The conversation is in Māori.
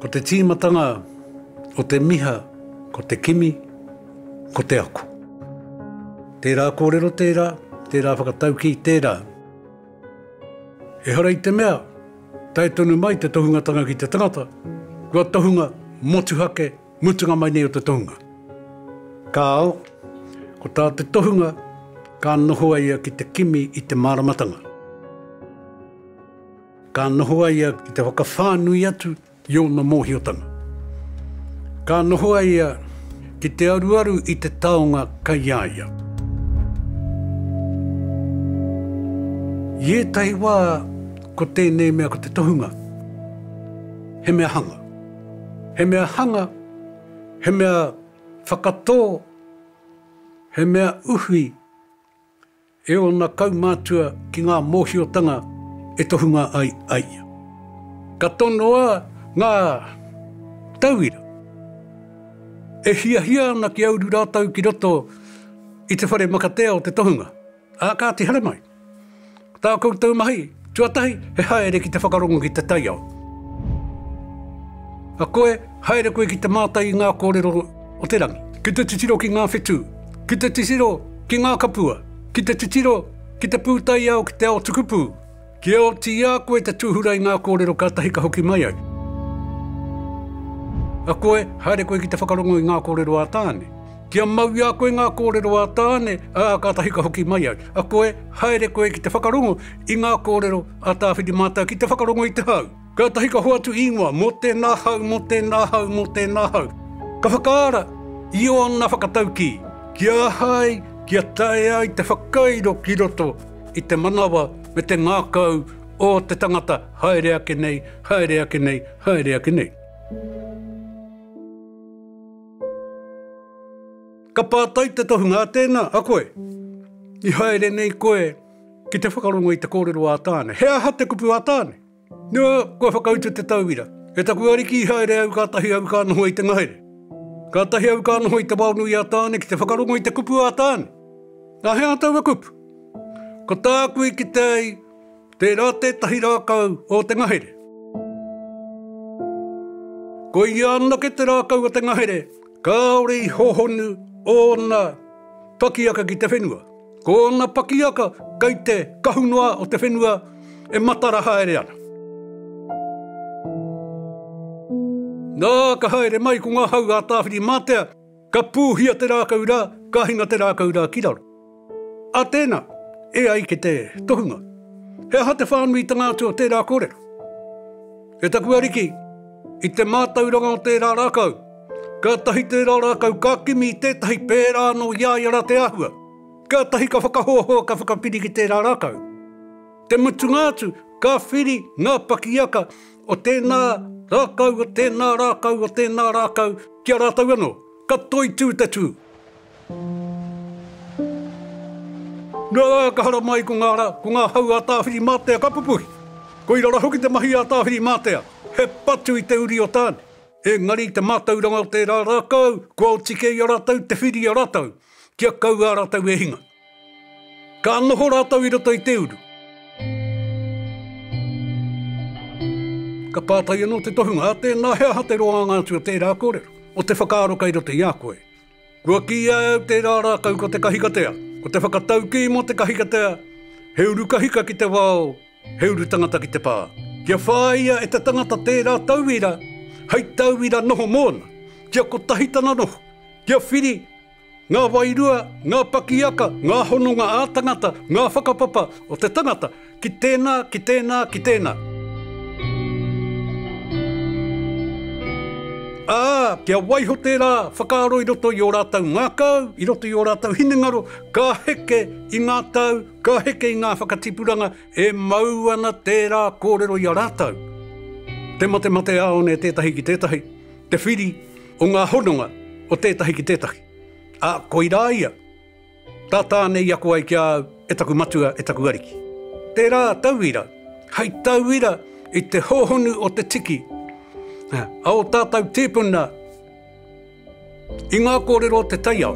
Ko te tīmatanga o te miha ko te kimi, ko te ako. Tērā kōrero tērā, tērā whakataukī tērā. Ehara i te mea, tae tonu mai te tohungatanga ki te tangata, kua tohunga motuhake mutunga mai nei o te tohunga. Kāo, ko tā te tohunga, ka noho a ia ki te kimi i te māramatanga. Ka noho a ia ki te whakawhānui atu I ōna mōhiotanga, ka noho a ia ki te aruaru i te taonga kei a ia. I ētahi wā, ko tēnei mea ko te tohunga, he mea hanga. He mea hanga, he mea whakatō, he mea uwhi, E ōna kaumātua ki ngā mōhiotanga e tohunga ai a ia. Ka tonoa ngā tauira e hiahia ana kia uru rātou ki roto i te whare makatea o te tohunga, ā, kāti haramai tā koutou mahi. Tuatahi, he haere ki te whakarongo ki te taiao. A koe, haere koe ki te mātai i ngā kōrero o te rangi. Ki te titiro ki ngā whetū, ki te titiro ki ngā kapua, ki te titiro ki te pūtaiao ki te ao tukupū, kia oti i a koe te tūhura i ngā kōrero kātahi ka hoki mai ai. A koe, haere koe ki te whakarongo i ngā kōrero a Tāne. Kia mau i a koe ngā kōrero a Tāne, ā, kātahi ka hoki mai au. A koe, haere koe ki te whakarongo i ngā kōrero a Tāwhiri Mātau ki te whakarongo i te hau. Kātahi ka hoatu īngoa mō tēnā hau, mō tēnā hau, mō tēnā hau. Ka whakaara i ōna whakataukī ki a Hai kia tae ai te whakairo ki roto i te manawa me te ngākau o te tangata haere ake nei, haere ake nei, haere ake nei. Ka pātai te tohunga, Tēnā, a koe? I haere nei koe ki te whakarongo i te kōrero a Tāne. He aha te kupu a Tāne? Nō, kua whakautu te tauira. E taku ariki i haere au kātahi au ka noho i te ngahere. Kātahi au ka noho i te wao nui a Tāne ki te whakarongo i te kupu a Tāne. Nā hea taua kupu? Ko tāku i kite ai, Tērā tētahi rākau o te ngahere. Ko ia anake te rākau o te ngahere, kāore i hohonu ōna pakiaka ki te whenua. Ko ōna pakiaka kei te kahu noa o te whenua e matara haere ana. Nā, ka haere mai ko ngā hau a Tāwhiri-mātea. Ka pūhia te rākau rā, ka hinga te rākau rā ki raro. A tēnā, e ai ki te tohunga, he aha te whānuitanga atu o tērā kōrero? E taku Ariki, i te mātauranga o tērā rākau, kātahi tērā rākau ka kimi i tētahi pērā anō i a ia rā te āhua, kātahi ka whakahoahoa ka whakapiri ki tērā rākau. Te mutunga atu, ka whiri ngā pakiaka o tēnā rākau, o tēnā rākau, o tēnā rākau, ki a rātou anō, ka toitū te tū. Nō reira ka haramai ko ngā rā, ko ngā hau a Tāwhirimātea ka pupuhi. Koira rā hoki te mahi a Tāwhirimātea, he patu i te uri o Tāne. Engari i te mātauranga o tērā rākau, kua oti kē i a rātou te whiria rātou, kia kau ā rātou e hinga. Ka noho rātou i roto i te uru. Ka pātai anō te tohunga, Ate, nā he aha te roanga atu o tērā kōrero, o te whakaaro kei roto i a koe? Kua kīia e au tērā rākau ko te kahikatea, ko te whakataukī mō te kahikatea, he uru kahika ki te wao, he uru tangata ki te pā. Kia whāia e te tangata tērā tauira hei tauira noho mōna, kia kotahi tana noho, kia whiri Ngā wairua, ngā pakiaka, ngā hononga ā-tangata, ngā whakapapa o te tangata ki tēnā, ki tēnā, ki tēnā. Ā, kia waiho tērā whakaaro i roto i ō rātou ngākau, i roto i ō rātou hinengaro, ka heke i ngā tau, ka heke i ngā whakatipuranga e mau ana tērā kōrero i a rātou. Te matemateāone tētahi ki tētahi, te whiri, o ngā hononga o tētahi ki tētahi, ā, koirā ia, tā Tāne i ako ai ki a au, e taku matua, e taku ariki. Tērā tauira, hei tauira i te hōhonu o te tiki, ā, a ō tātou tīpuna i ngā kōrero o te taiao.